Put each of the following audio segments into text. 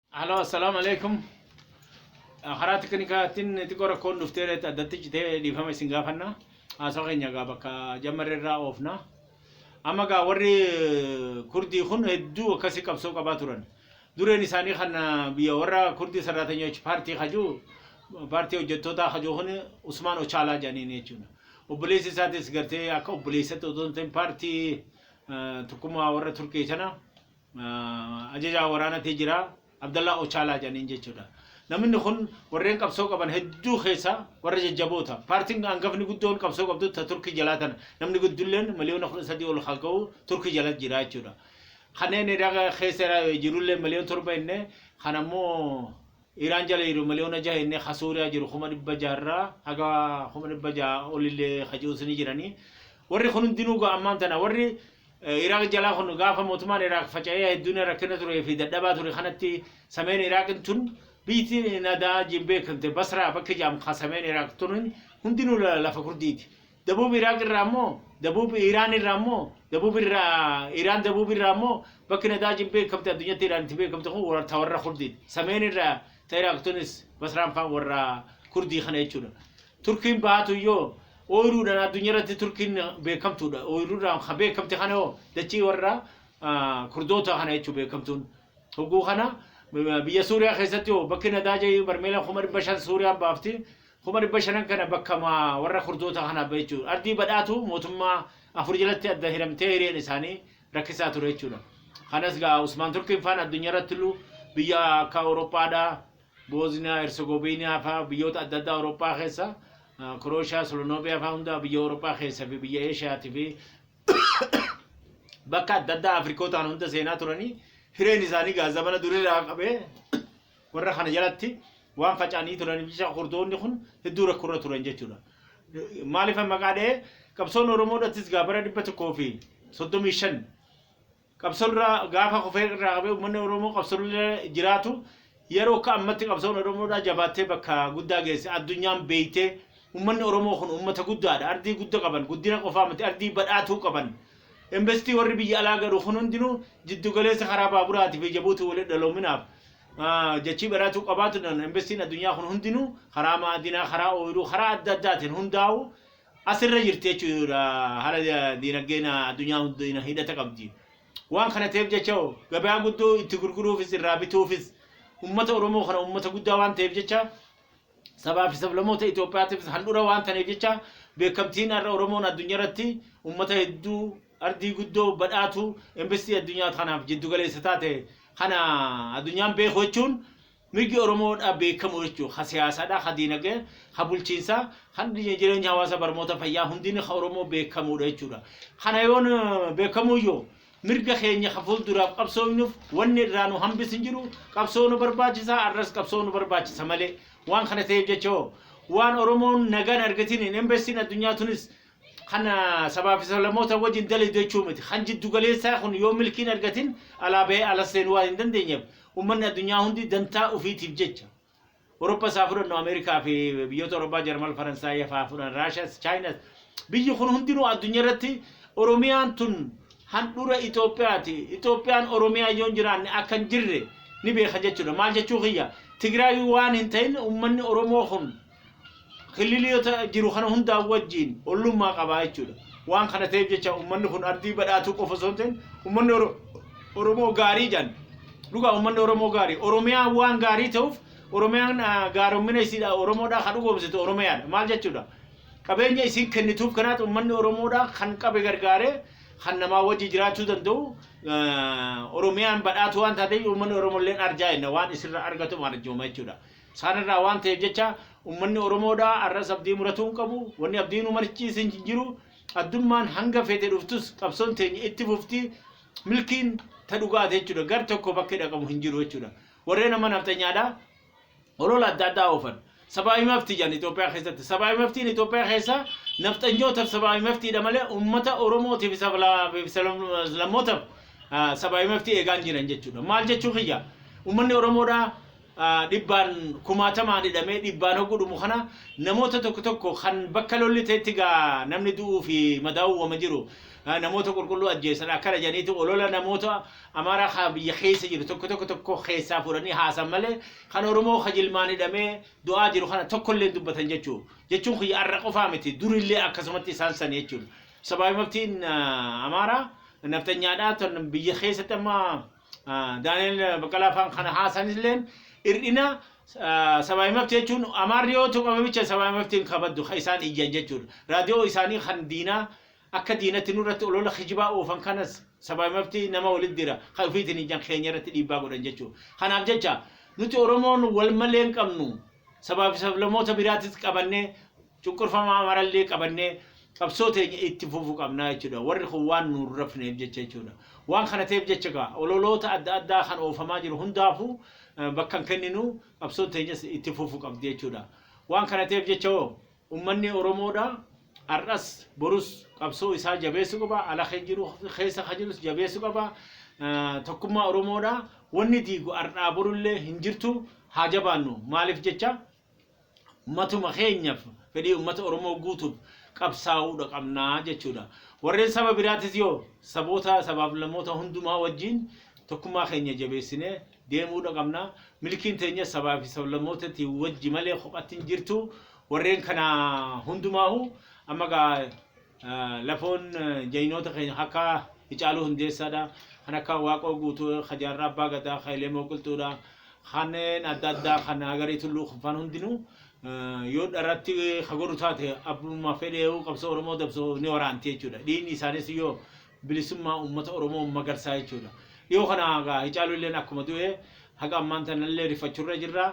Halo assalamu alaikum. Karaa tekinikaatiin xiqqoo rakkoon dhuftee reetti addatti citee dhiifama isin gaafanna. Haasoo keenya egaa bakka jammarree irraa oofna. Amma egaa warri kurdii kun hedduu akkasii qabsoo qabaa turan. Dureen isaanii kan biyya warra kurdii saraatanyochi paartii kajuu paartii hojjettootaa kajuu kun Usmaan Ochaalaa jedhaniin jechuudha. Obboleessi isaatis gartee akka obboleessatti otoo hin ta'in paartii eh, tokkummaa warra Turkii sana Ajajaa waraana tee jira Abdallaa Ochaalaa jedhaniin jechuudha. Namni kun warreen qabsoo qaban hedduu keessa warra jajjaboota. Paartiin hangafni guddoon qabsoo qabdu ta Turkii jalaa tana. Namni guddulleen miliyoona kudha sadii ol haa ga'u Turkii jala jira jechuudha. Kanneen Iraaq keessa jirullee miliyoon torba inni kan ammoo Iraan jala jiru miliyoona jaha inni ka Suuriyaa jiru kuma dhibba jaharraa haga kuma dhibba jaha olillee ka ji'uus ni jiranii. Warri kun hundinuu ammaan tana warri Iraaq jalaa kun gaafa mootummaan Iraaq faca'ee hedduun rakkina turee fi dadhabaa ture kanatti sameen Iraaqin tun biyyiti nadaa jiin beekamte Basraa bakki jaam ka sameen Iraaq tunin hundinuu lafa kurdiiti. Dabuub Iraaq irraa immoo dabuub Iraan irraa immoo dabuub irraa Iraan dabuub irraa immoo bakki nadaa jiin beekamte addunyatti Iraan itti beekamte kun ta warra kurdiiti. Sameen irraa ta Iraaq tunis Basraan faan warra kurdii kana jechuudha. Turkiin baatu yoo ooyiruudhaan addunyaarratti Turkiin beekamtuudha. Ooyiruudhaan kan beekamte kana hoo dachii warra Kurdoota kana jechuun beekamtuun. Hogguu kana biyya Suuriyaa keessatti hoo bakki nadaaja barmeela kuma dhibba shan Suuriyaan baafti. Kuma dhibba shanan kana bakka warra Kurdoota kanaaf bahe jechuudha. Ardii badhaatu mootummaa afur jalatti adda hiramtee hireen isaanii rakkisaa ture jechuudha. Kanas gaa Usmaan Turkiin faan addunyaarratti illu biyya akka Awurooppaadhaa Boozniyaa Hersegoviiniyaa faa biyyoota adda addaa Awurooppaa keessa Kirooshiyaa Solonooviyaa faa hundaa biyya Awurooppaa keessa fi biyya Eeshiyaatii fi bakka adda addaa Afrikootaan hunda seenaa turanii hireen isaanii gaa zamana duriirraa qabee warra kana jalatti waan faca'anii turaniif jecha kurdoonni kun hedduu rakkoorra turan jechuudha. Maaliif maqaa dha'ee qabsoon Oromoodhattis gaa bara dhibba tokkoo fi soddomii shan Qabsoon irraa gaafa kufee irraa qabee uummanni Oromoo qabsoon irra jiraatu yeroo akka ammatti qabsoon Oromoodhaa jabaattee bakka guddaa geesse addunyaan beeytee uummanni Oromoo kun uummata guddaadha ardii gudda qaban guddina qofaa miti ardii badhaatuu qaban Investii warri biyya alaa galu kun hundinuu jiddu galeessa karaa baaburaati fi jabuuti walitti dhaloominaaf jachii badhaatuu qabaatu investiin addunyaa kun hundinuu karaa maadinaa karaa ooyiruu karaa adda addaatiin hundaa'u as irra jirti jechuudha haala diinagdeen addunyaa hundina hidhata qabdi. Waan kana ta'eef jecha hoo gabaa guddoo itti gurguruufis irraa bituufis uummata Oromoo kana uummata guddaa waan ta'eef jecha sabaa fi sablamoota Itoophiyaatiifis handhura waan ta'eef jecha beekamtiin har'a Oromoon addunyaa irratti uummata hedduu ardii guddoo badhaatu investii addunyaa kanaaf jiddu galeessa taate kana addunyaan beeku jechuun Mirgi Oromoo dha beekamu jechu ha siyaasa dha, ha diinage, ha bulchiinsa, ha jireenya hawaasa barmoota fayyaa hundini ha Oromoo beekamu dha jechu dha. Kana yoon beekamu iyyu mirga keenya ha fulduraaf qabsooynuf wanni irraa nu hambis hin jiru qabsoo nu barbaachisa arras qabsoo nu barbaachisa malee. Waan kana ta'eef jecha hoo waan Oromoon nagaan argatin hin hambessin addunyaa tunis Kan sabaa fi sablammoota wajjin dalidu jechuu miti. Kan jiddu galeessaa kun yoo milkii hin argatin alaa bahee alas seenuu waan hin dandeenyeef ummanni addunyaa hundi dantaa ufiitiif jecha Oropas haa fudhannu Ameerikaa fi biyyoota Oroppaa Jarmal Faransaayii faa fudhan Raashas Chaayinas biyyi kun hundinuu addunyaa irratti Oromiyaan tun handhura Itoophiyaati Itoophiyaan Oromiyaa yoo hin jiraanne akka hin jirre ni beeka jechuudha. Maal jechuu kiyya Tigraayii waan hin ta'in ummanni Oromoo kun kililiyoota jiru kana hundaa wajjiin ollummaa qabaa jechuudha. Waan kana ta'eef jecha uummanni kun ardii badhaatuu qofa osoo hin ta'in uummanni Oromoo gaarii jedhan. Dhugaa uummanni Oromoo gaarii. Oromiyaa waan gaarii ta'uuf Oromiyaan gaaromina isiidha Oromoodhaa kan dhugoomsitu Oromiyaadha. Maal jechuudha? Qabeenya isiin kennituuf kanaati uummanni Oromoodhaa kan qabe gargaaree kan namaa wajji jiraachuu danda'u Oromiyaan badhaatuu waan taateef uummanni Oromoo illee arjaa jenna waan isirra argatu arjooma jechuudha. Saan irraa waan ta'eef jecha ummanni Oromoo dha arras abdii muratuu hin qabu. Wanni abdii nu marachiise hin jiru. Addummaan hanga feete dhuftus qabsoon teenya itti fufti. Milkiin ta dhugaa te jechuudha. Gar tokko bakki dhaqamu hin jiru jechuudha. Warreen amma nafxanyaa dha olola adda addaa oofan. Sabaawi mafti jedhan Itoophiyaa keessatti. Sabaawi maftiin Itoophiyaa keessa nafxanyootaf sabaawi maftii dha malee ummata Oromootiif fi sablammootaf sabaawi maftii eegaan jiran jechuudha. Maal jechuu kiyya? Ummanni Oromoo dha dhibbaan kumaatamaan hidhamee dhibbaan hoggu dhumu kana namoota tokko tokko kan bakka lolli ta'etti gaa namni du'uu fi madaa'uu wama jiru namoota qulqulluu ajjeesan akkana jedhaniiti olola namoota amaaraa kaa biyya keessa jiru tokko tokko tokko keessaa fuudhanii haasan malee kan oromoo ka jilmaan hidhamee du'aa jiru kana tokkollee dubbatan jechuu jechuun kiyya arra qofaa miti durillee akkasumatti isaan san jechuun sabaabimaftiin amaaraa naftanyaadhaa ton biyya keessatti amma Ah, Daani'el Baqqalaa afaan kana haasanilleen hir'ina ah, sabaa himafti jechuun amaarri yoo tuqame bicha sabaa himafti hin kabaddu kan isaan iyyan jechuudha. Raadiyoo isaanii kan diinaa akka diinatti nurratti olola kijibaa oofan kanas sabaa himafti nama walitti dira kan ofiitiin iyyan keenya irratti dhiibbaa godhan jechuudha. Kanaaf jecha nuti Oromoon wal malee hin qabnu sabaa fi sablamoota biraatis qabannee cunqurfamaa marallee qabannee qabsoo teenya itti fufu qabnaa jechuudha. Warri kun waan nu hin rafneef jecha jechuudha. Waan kana ta'eef jecha egaa ololoota adda addaa kan oofamaa jiru hundaafuu bakka hin kenninu qabsoon teenyas itti fufu qabdi jechuudha. Waan kana ta'eef jecha hoo ummanni Oromoodha har'as borus qabsoo isaa jabeessu qaba. Ala kan jiru keessa kan jirus jabeessu qaba. Tokkummaa Oromoodha. Wanni diigu har'aa borullee hin jirtu haa jabaannu. Maaliif jecha Ummatuma keenyaf, fedhii ummata Oromoo guutuuf qabsaa'uudha qabna jechuudha. Warreen saba biraatis yoo saboota, sabaaf lamoota hundumaa wajjiin tokkummaa keenya jabeessinee deemuudha qabna. Milkiin teenyas sabaa fi sablammootati wajji malee kophatti hin jirtu. Warreen kana hundumaahuu amma gaa Lafoon jaynoota keenya ka akka Hicaaluu Hundeessaa dha, kan akka Waaqoo Guutuu, ka Jaarraa Abbaa Gadaa, ka Elemoo Qilxuu dha. Kanneen adda addaa kan Hagarii Tulluu Kunfaan hundinuu yoo dharatti ka godhu taate abbuma fedheehu qabsoo Oromoo dabso ni waraanti jechuu dha. Dhiigni isaaniis yoo bilisummaa uummata Oromoo magarsaa jechuu dha. Dhiyoo kana egaa Hicaaluu illeen akkuma du'e haga ammaan tana illee rifachuu irra jirra.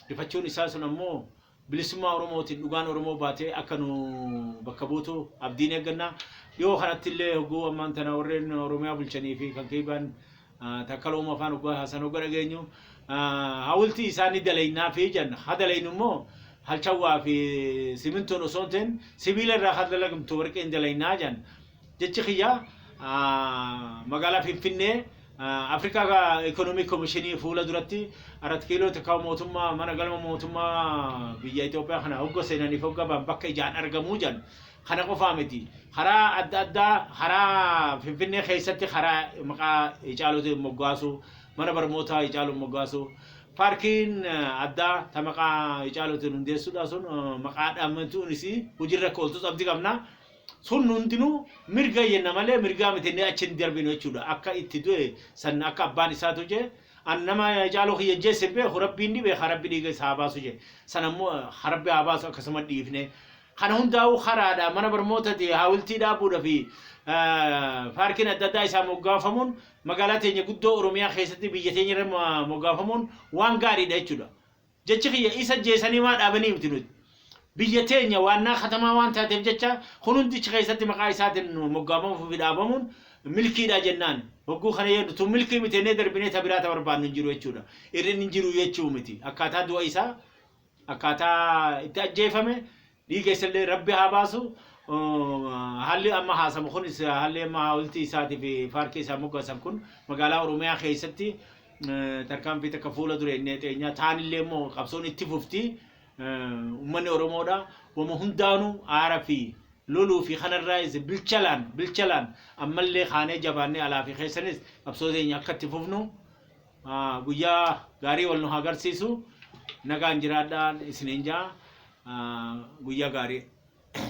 Rifachuun isaa sun ammoo Bilisummaa Oromootiin dhugaan Oromoo baatee akka nu bakka buutu abdiin eegganna. Dhiyoo kanatti illee hogguu ammaan tana warreen Oromiyaa bulchanii fi kan kiibaan takkaloo mafaan hoggaa haasan hogga dhageenyu hawultii isaa ni dalaynaa fi jenna. Ha dalaynu immoo halchawwaa fi simintoon osoo hin ta'in sibiila irraa kan dalagamtu warqeen dalaynaa jenna. Jechi kiyya magaalaa Finfinnee Africa Economic Commission fuula duratti arat kiiloo takka mootummaa mana galma mootummaa biyya Itoophiyaa kana hogga seenaniif hogga ba'an bakka ijaan argamuu jedhan kana qofaa miti karaa adda addaa karaa Finfinnee keessatti karaa maqaa Hacaaluutiin moggaasu mana barmootaa Hacaaluun moggaasu paarkiin addaa ta maqaa Hacaaluutiin hundeessuudha sun maqaa dhaamatuun isii hojiirra akka ooltus abdi qabna. Sun hundinuu mirga jenna malee mirgaa miti inni achi hin darbinu jechuudha. Akka itti du'e san akka abbaan isaatu je an nama caaloo kiyya ajjeesse hin beeku rabbiin ni beeka rabbi dhiiga isaa haa baasu je san ammoo ha rabbi haa baasu akkasuma dhiifne. Kana hundaa'uu karaadha mana barmootati haawiltii dhaabuudha fi paarkiin adda addaa isaa moggaafamuun magaalaa teenya guddoo Oromiyaa keessatti biyya teenya irra moggaafamuun waan gaariidha jechuudha. Jechi kiyya isa jeesanii maa dhaabanii miti nuti biyya teenya waannaa katamaa waan taateef jecha kun hundi achi keessatti maqaa isaatiin moggaafamuu fi dhaabamuun milkiidha jennaan hogguu kana yoo nutuu milkii miti jennee darbinee ta biraa ta barbaannu hin jiru jechuudha irrin hin jiru jechuu miti akkaataa du'a isaa akkaataa itti ajjeefame Dhii keessallee rabbi haa baasu haalli amma haasamu kunis haalli amma haawultii isaatiif paarkii isaa moggaasan kun magaalaa Oromiyaa keessatti tarkaanfii takka fuula dura inni teenyaa taanillee immoo qabsoon itti fufti ummanni Oromoodha wama hundaanuu aara fi loluu fi kanarraa isa bilchalaan bilchalaan ammallee kaanee jabaannee alaa fi keessanis qabsoo teenya akka itti fufnu Ah, guyyaa gaarii wal nu haa garsiisu. Nagaan jiraadhaan isiniin jaa. Ah, guyyaa gaarii.